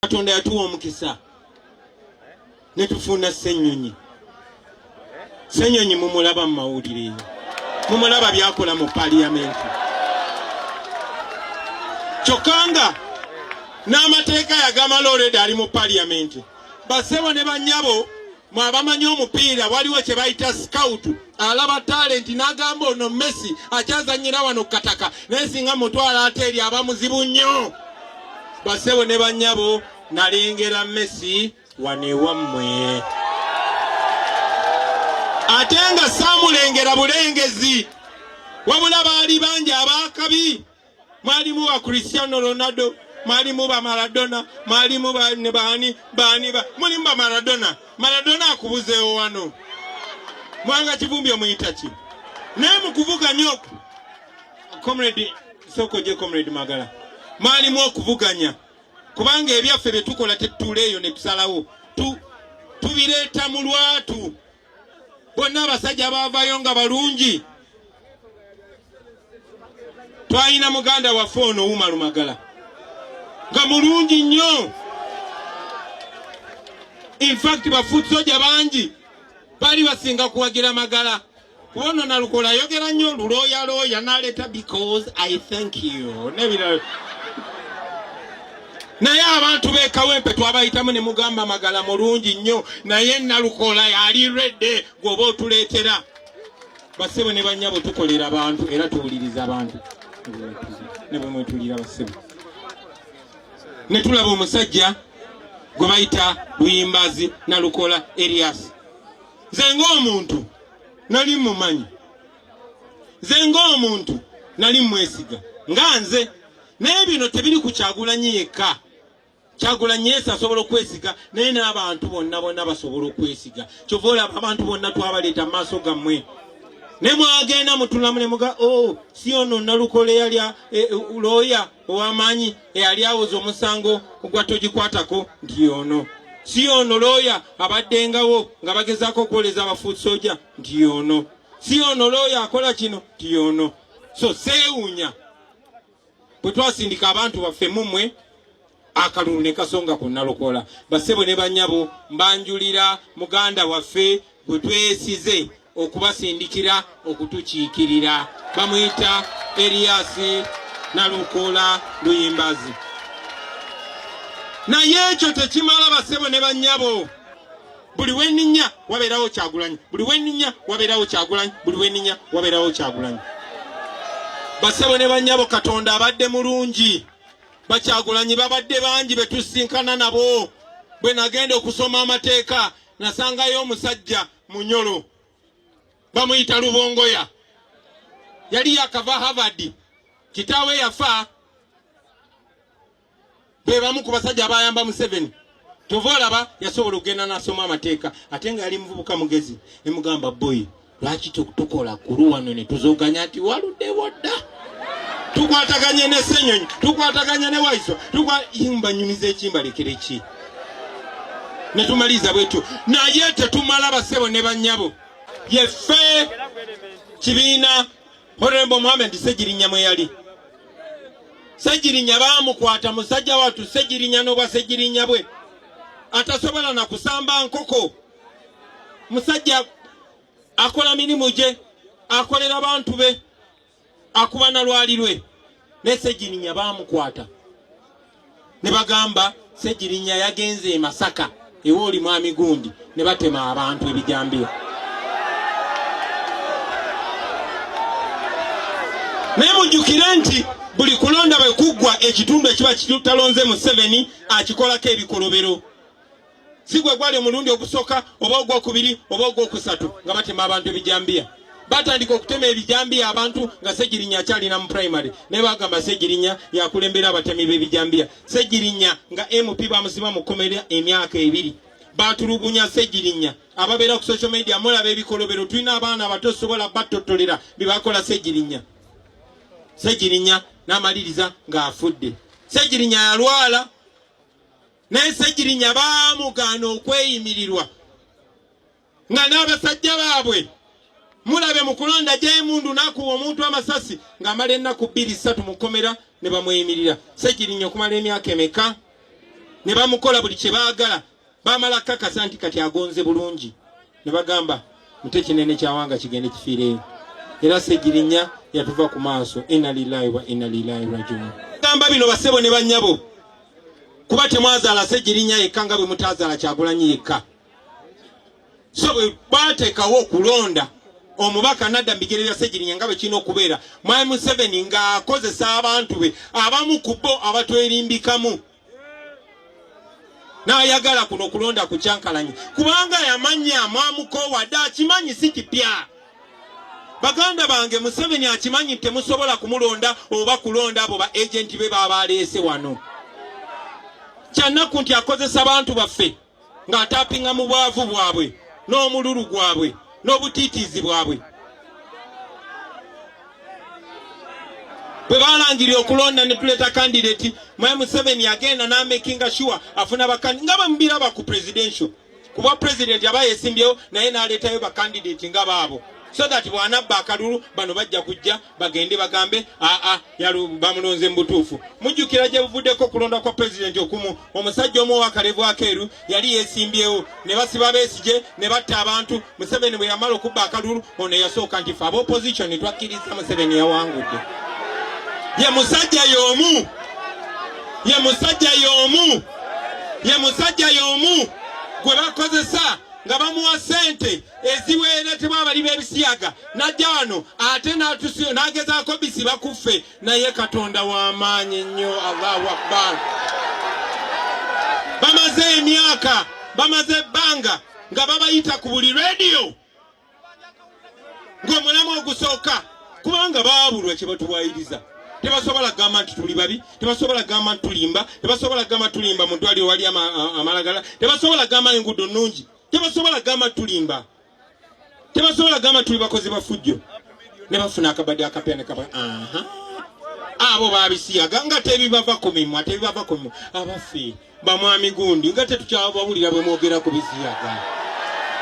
katonda yatuwa omukisa netufuna senyonyi senyonyi mumulaba mu mawulire eyo mumulaba byakola mu paliyamenti kyokka nga n'amateeka yagamala olweda ali mu paliyamenti basebo ne banyabo mu abamanyi omupiira waliwo kye bayita scout alaba talenti n'agamba ono messi akyazanyira wano kukataka naye singa mutwala ate eri aba muzibu nnyo basebo ne bannyabo nalengera messi wano ewammwe ate nga saamulengera bulengezi wabula baali bangi abaakabi mwalimu ba Cristiano Ronaldo mwalimu ba Maradona mwalimu ba ne baani baani ba mulimu ba Maradona Maradona akubuzeewo wano mwanga kivumbi omuyita ki naye mukuvuganya oku comrade soko je comrade Magala mwalimu okuvuganya kubanga ebyaffe bye tukola tetutuula eyo ne tusalawo tu tubireeta mu lwatu bonna abasajja baavayo nga balungi twalina muganda waffe ono umaru magala nga mulungi nnyo infact bafuut soja bangi bali basinga kuwagira magala kuba ono nalukola ayogera nnyo luloyaloya naleeta because i thank you nebirala naye abantu bekawempe twabayitamu ne mugamba magala mulungi nnyo naye nalukola yali redde gwoba otuleetera basebo ne banyabo tukolera abantu era tuwuliriza abantu ne bwemwetulira basebo ne tulaba omusajja gwe bayita buyimbazi nalukola erias nze ngaomuntu nali mumanyi nze ngaomuntu nali mwesiga nga nze naye bino tebiri ku kyagulanyi yekka kyagulanyi yesu asobola okwesiga naye n'abantu bonna bonna basobola okwesiga kyova olaba abantu bonna twabaleeta mu maaso gammwe ne mwagenda mutulamu ne muga o oh, si ono nalukole yali eh, eh, looya ow'amaanyi eyali awoza omusango ogwa togikwatako nti yono si ono looya abaddengawo nga bagezaako okwoleza abafuut soja nti yono si ono looya akola kino nti yono so seewunya bwe twasindika abantu baffe mumwe akalulu ne kasonga ku nalokola basebo ne banyabo mbanjulira muganda waffe gwe twesize okubasindikira okutukiikirira bamuyita eriyasi nalokola luyimbazi naye ekyo tekimala basebo ne banyabo buli weninya wabeerawo kyagulanyi buli weninya wabeerawo kyagulanyi buli weninya wabeerawo kyagulanyi basebo ne banyabo katonda abadde mulungi bakyagulanyi babadde bangi betusinkana nabo bwe nagenda okusoma amateeka nasangayo omusajja munyolo bamuyita lubongoya yali yakava havard kitaawe yafa be bamu ku basajja abayamba Museveni kyova olaba yasobola okugenda nasoma amateeka ate nga yali muvubuka mugezi nemugamba boy lwaki tukola kulu wano netuzoganya nti waludewo dda tukwataganye ne senyonyi tukwataganye ne waiso tukwaimbanyumiza ekimbalekere ki netumaliza bwetyo naye tetumala basebo ne banyabo yeffe kibiina Honorable Mohamed Ssegirinya mwe yali Ssegirinya baamukwata musajja wattu Ssegirinya n'obwa Ssegirinya bwe atasobola na kusamba nkoko musajja akola mirimu gye akolera bantu be akuba na lwali lwe ne Ssegirinya baamukwata ne bagamba Ssegirinya yagenze e Masaka ewa oli mwami gundi ne batema abantu ebijambiya naye mujjukire nti buli kulonda bwe kuggwa ekitundu ekiba kitalonze Museveni akikolako ebikolobero si gwe gwali omulundi ogusooka oba ogwokubiri oba ogwokusatu nga batema abantu ebijambiya batandika okutema ebijambiya abantu nga segirinya akyalina mu primary naye bagamba segirinya yakulembera abatemi b'ebijambiya segirinya nga mp bamusiba mu kkomera emyaka ebiri batulugunya segirinya ababeera ku social media mulaba ebikolobero tulina abaana abato sobola battottolera byebakola segirinya segirinya n'amaliriza ng'afudde segirinya yalwala naye Ssegirinya baamugaana okweyimirirwa nga n'abasajja baabwe mulabe mu kulonda gy'emundu n'akuwa omuntu amasasi ng'amala ennaku bbiri ssatu mu kkomera ne bamweyimirira Ssegirinya okumala emyaka emeka ne bamukola buli kye baagala baamala kakasa nti kati agonze bulungi ne bagamba mute kinene kyawanga kigende kifiireyo era segirinya yatuva ku maaso ina lilahi wa ina lilahi rajiun gamba bino basebo ne banyabo kuba temwazaala segirinya yekka nga bwe mutazaala kyagulanyi yekka so bwe bateekawo okulonda omubaka nadda mubigere bya segirinya nga bwekirina okubeera mwami museveni ng'akozesa abantu be abamu ku bo abatwerimbikamu n'ayagala kuno okulonda ku kyankalanye kubanga yamanya amwamukoowadde akimanyi si kipya baganda bange museveni akimanyi nti temusobola kumulonda oba kulonda abo ba agenti be baaba aleese wano kyannaku nti akozesa bantu baffe ng'ataapinga mu bwavu bwabwe n'omululu gwabwe n'obutiitiizi bwabwe bwe baalangirira okulonda ne tuleeta kandidati mwe museveni yagenda n'amekinga shuwa afuna bakandi nga bamubiraba ku presidential kuba president aba yesimbyewo naye n'aleetayo bakandidati nga baabo so that bw'anabba akalulu bano bajja kujja bagende bagambe aa bamulonze mu butuufu mujjukira gye buvuddeko okulonda kwa pulezidenti okumu omusajja omu owakalevu akeeru yali yeesimbyewo ne basiba beesigye ne batta abantu museveni bwe yamala okubba akalulu ono eyasooka nti fe aba opozitioni twakkiriza museveni yawangudde ye musajja y'omu ye musajja y'omu ye musajja y'omu gwe bakozesa nga bamuwa ssente eziweeretebwa abali b'ebisiyaga najja wano ate n'agezaako bisiba ku ffe naye katonda w'amaanyi nnyo allahu akbar bamaze emyaka bamaze ebbanga nga babayita ku buli rediyo ng'omulamu ogusooka kubanga baabulwa kye batuwayiriza tebasobola kugamba nti tuli babi tebasobola kugamba nti tulimba tebasobola kugamba tulimba mu ddwaliro wali amalagala tebasobola kugamba enguudo nnungi tebasobola gamba tulimba tebasobola gamba tuli bakozi bafujjo ne bafuna akabadi akapya ne kaba aha abo babisiyaga nga tebibava ku mimwa tebibava ku mimwa abaffe bamwami gundi nga tetukyabawulira bwe mwogera ku bisiyaga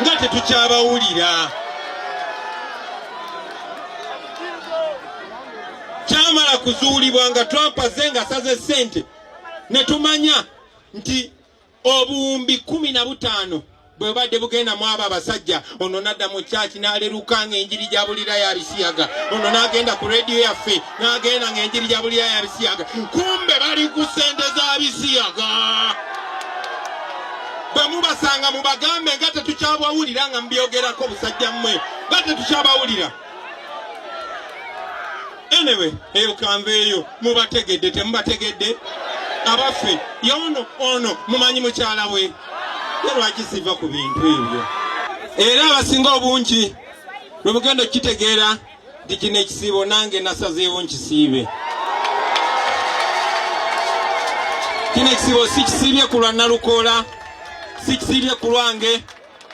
nga tetukyabawulira kyamala kuzuulibwa nga twapaze nga saze sente ne tumanya nti obuwumbi kumi na butaano bwe bubadde bugenda mu abo abasajja ono nadda mu kyaki n'aleruka ng'enjiri gya bulira ya bisiyaga ono n'agenda ku rediyo yaffe n'agenda ng'enjiri gya bulira ya bisiyaga kumbe bali ku ssente za bisiyaga bwe mubasanga mubagambe nga tetukyabawulira nga mubyogerako busajja mmwe nga tetukyabawulira anyway eyo kanveeyo mubategedde temubategedde abaffe yono ono mumanyi mukyala we lwaki siva ku bintu ebyo era abasinga obungi lwe mugenda okukitegeera nti kino ekisiibo nange nasazeewo nkisiibe kino ekisiibo sikisiibye ku lwa nalukoola sikisiibye ku lwange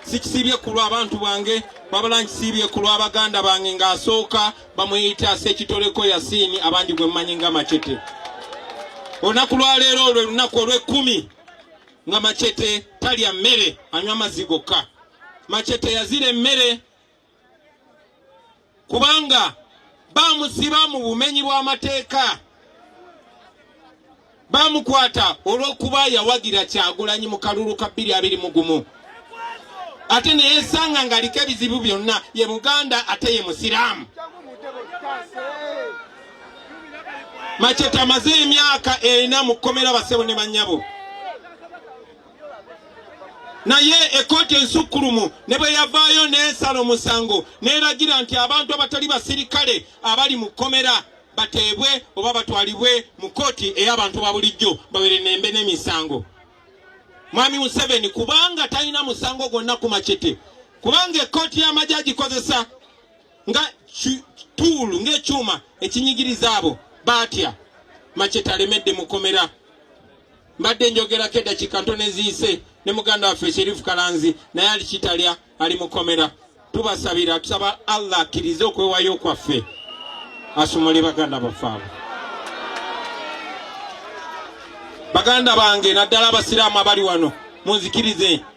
sikisiibye ku lw'abantu bange wabula nkisiibye ku lw'abaganda bange ng'asooka bamuyita sekitoleko yasiini abangi gwe mmanyi nga macete olunaku lwaleero olwe lunaku olw'ekkumi nga macete talya mmere anywa amazzi gokka macete yazira emmere kubanga bamusiba mu bumenyi bw'amateeka bamukwata olw'okuba yawagira kyagulanyi mu kalulu ka bbiri abiri mu gumu ate neyesanga ng'aliko ebizibu byonna ye muganda ate ye musiraamu maceta amaze emyaka ena mu kkomera basebo ne banyabo naye ekkooti ensukkulumu ne bwe yavaayo n'esala omusango n'eragira nti abantu abatali basirikale abali mu kkomera bateebwe oba batwalibwe mu kkooti ey'abantu ba bulijjo babere nembe n'emisango mwami museveni kubanga talina musango gwonna ku macete kubanga ekkooti y'amagye agikozesa nga tuulu ng'ekyuma ekinyigiriza abo baatya macete alemedde mukomera mbadde njogerako eddakiika ntono eziise ne muganda waffe sherifu kalanzi naye ali kitalya ali mukomera tubasabira tusaba allah akkirize okwewayo kwaffe asumule baganda baffe abo baganda bange naddala abasiraamu abali wano munzikirize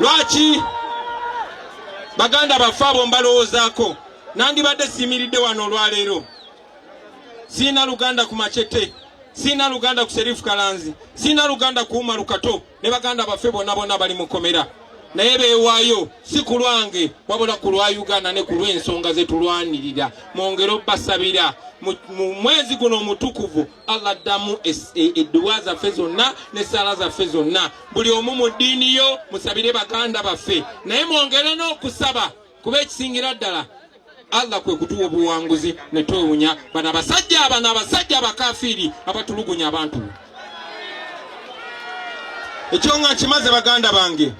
lwaki baganda baffe abo mbalowoozaako nandibadde siyimiridde wano olwaleero siina luganda ku macete siina luganda ku serifu kalanzi siina luganda ku umaru kato ne baganda baffe bonna bonna bali mukomera naye bewaayo si ku lwange wabula ku lwa uganda ne ku lw'ensonga zetulwanirira mwongere obbasabira mu mwezi guno omutukuvu allah addamu edduwa e, zaffe zonna n'essaala zaffe zonna buli omu mu ddiini yo musabire baganda baffe naye mwongere n'okusaba kuba ekisingira ddala allah kwe kutuwa obuwanguzi ne twewunya bana basajja abana abasajja abakafiiri abatulugunya abantu ekyo nga nkimaze baganda bange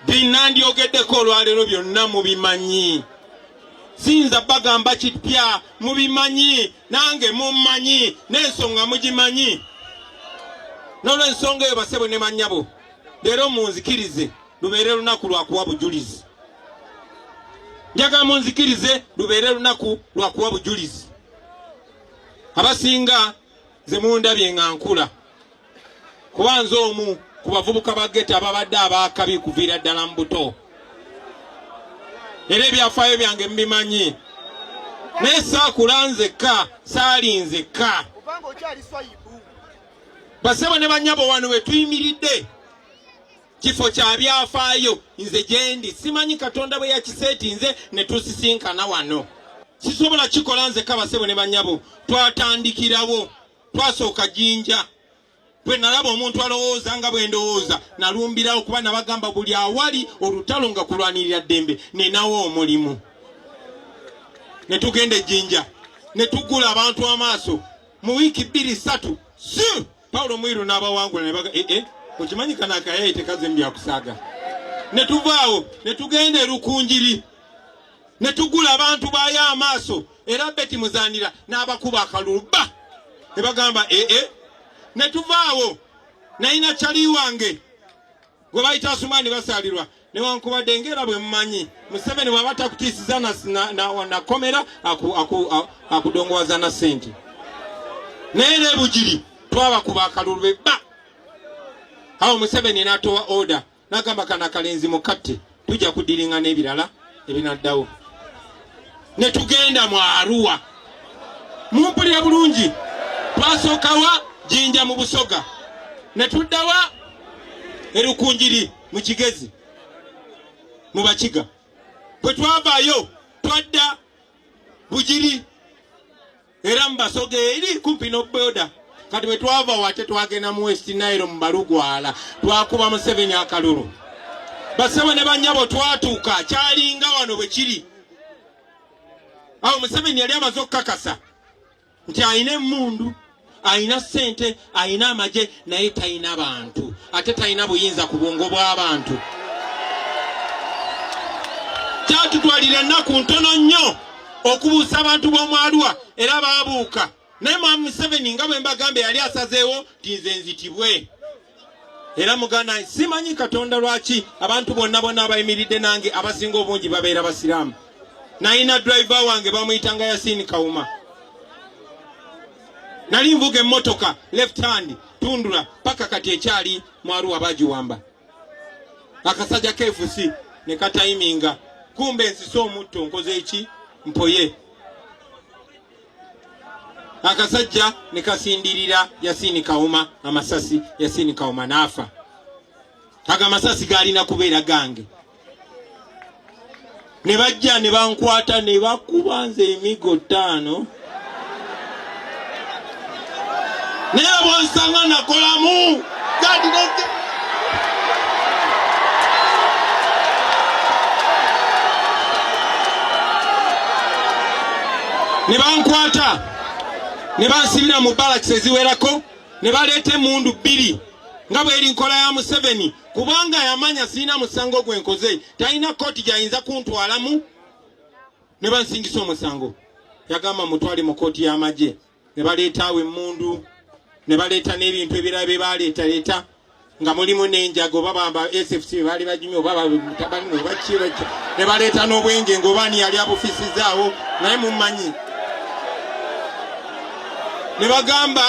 binandyogeddeko olwaleero byonna mubimanyi siyinza bagamba kipya mubimanyi nange mummanyi n'ensonga mugimanyi n'olwensonga eyo basebo ne manyabo leero munzikirize lubeere lunaku lwakuwa bujulizi njagala munzikirize lubeere lunaku lwakuwa bujulizi abasinga ze mundabye nga nkula kuba nze omu ku bavubuka ba geta ababadde abaakabi kuviira ddala mu buto era ebyafaayo byange mubimanyi naye saakula nzekka saali nzekka basebo ne banyabo wano wetuyimiridde kifo kya byafaayo nze gyendi simanyi katonda bwe yakiseeti nze ne tusisinkana wano sisobola kikola nzekka basebo ne banyabo twatandikirawo twasooka jinja bwe nalaba omuntu alowooza nga bwe ndowooza nalumbirawo kuba nabagamba buli awali olutalo nga kulwanirira ddembe nenawo omulimu ne tugenda ejjinja ne tugula abantu amaaso mu wiiki bbiri ssatu si pawulo mwiru n'abawangula ne baga ee eh, eh, okimanyi kana akayaye tekaze mu byakusaaga ne tuvaawo ne tugenda erukunjiri ne tugula abantu baayo amaaso era beti muzanira n'abakuba akalulu bba ne bagamba ee eh, eh. ne tuvaawo nayina cali wange gwe bayita asumaani basaalirwa newankubadde ngaera bwe mumanyi museveni bwaba takutiisiza nakomera akudongowaza na sente naye nebugiri twabakuba akalulu bebba awo museveni natowa order nagamba kana akalenzi mukatte tujja kudiringa n'ebirala ebinaddawo ne tugenda mu aruwa mumpulira bulungi twasookawa jinja mu busoga ne tuddawa erukunjiri mu kigezi mu bakiga bwe twavaayo twadda bugiri era mu basoga eri kumpi n'obuyoda kati bwe twava wate twagenda mu west nairo mu balugwala twakuba museveni akalulu basebo ne banyabo twatuuka kyalinga wano bwe kiri awo museveni yali amaze okukakasa nti alina emundu alina sente alina amagye naye talina bantu ate talina buyinza ku bwongo bw'abantu kyatutwalira ennaku ntono nnyo okubuusa abantu b'omwaluwa era baabuuka naye mwami museveni nga bwe mbagambye yali asazeewo nti nze nzitibwe era muganda simanyi katonda lwaki abantu bonna bonna abayimiridde nange abasinga obungi babeera basiraamu nayina driver wange bamuyitanga yasini kawuma nali nvuga emmotoka left hand tundula paka kati ekyali mwaruwa bagiwamba akasajja kefusi ne katayiminga kumba ensisa omutto nkoze eki mpoye akasajja ne kasindirira yasini kawuma amasasi yasini kawuma naafa ago amasasi gaalina kubeera gange ne bajja ne bankwata ne bakuba nze emigo ttaano naye bwonsanga nakolamu gadineke ne bankwata ne bansibira mu balakisi eziwerako ne baleeta emundu bbiri nga bweri nkola ya museveni kubanga yamanya sirina musango gwe nkoze talina kooti gyayinza kuntwalamu ne bansingisa omusango yagamba mutwale mu kooti y'amagye ne baleetaawo emmundu ne baleeta n'ebintu ebirala bye baleetaleeta nga mulimu n'enjaga oba bamba sfc be baali bajumi oba batabani oba kiraki ne baleeta n'obwenge ng'oba ani yali abufisizaawo naye mumanyi ne bagamba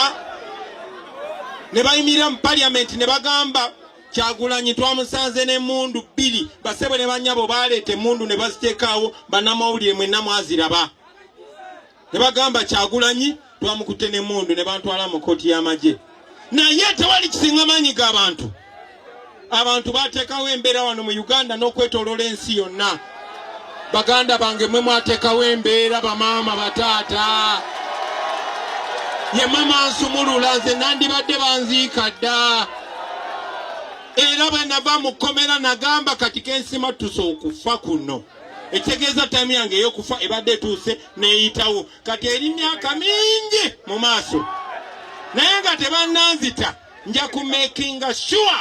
ne bayimirira mu parliament ne bagamba kyagulanyi twamusanze n'emundu bbiri basebo ne banyabo baleeta emundu ne baziteekaawo banamawulire mwenna mwaziraba ne bagamba kyagulanyi twamukutte n'emundu ne bantwala mu kooti y'amagye naye tewali kisinga maanyi g'abantu abantu bateekawo embeera wano mu uganda n'okwetoloola ensi yonna baganda bange mwe mwateekawo embeera bamaama bataata ye mama nsumulula nze nandibadde banziika dda era bwe nava mu kkomera nagamba kati kensimattusa okufa kuno ekitegeeza taimu yange eyokufa ebadde etuuse neyitawo kati eri myaka mingi mu maaso naye nga tebannanzita nja ku makinga sure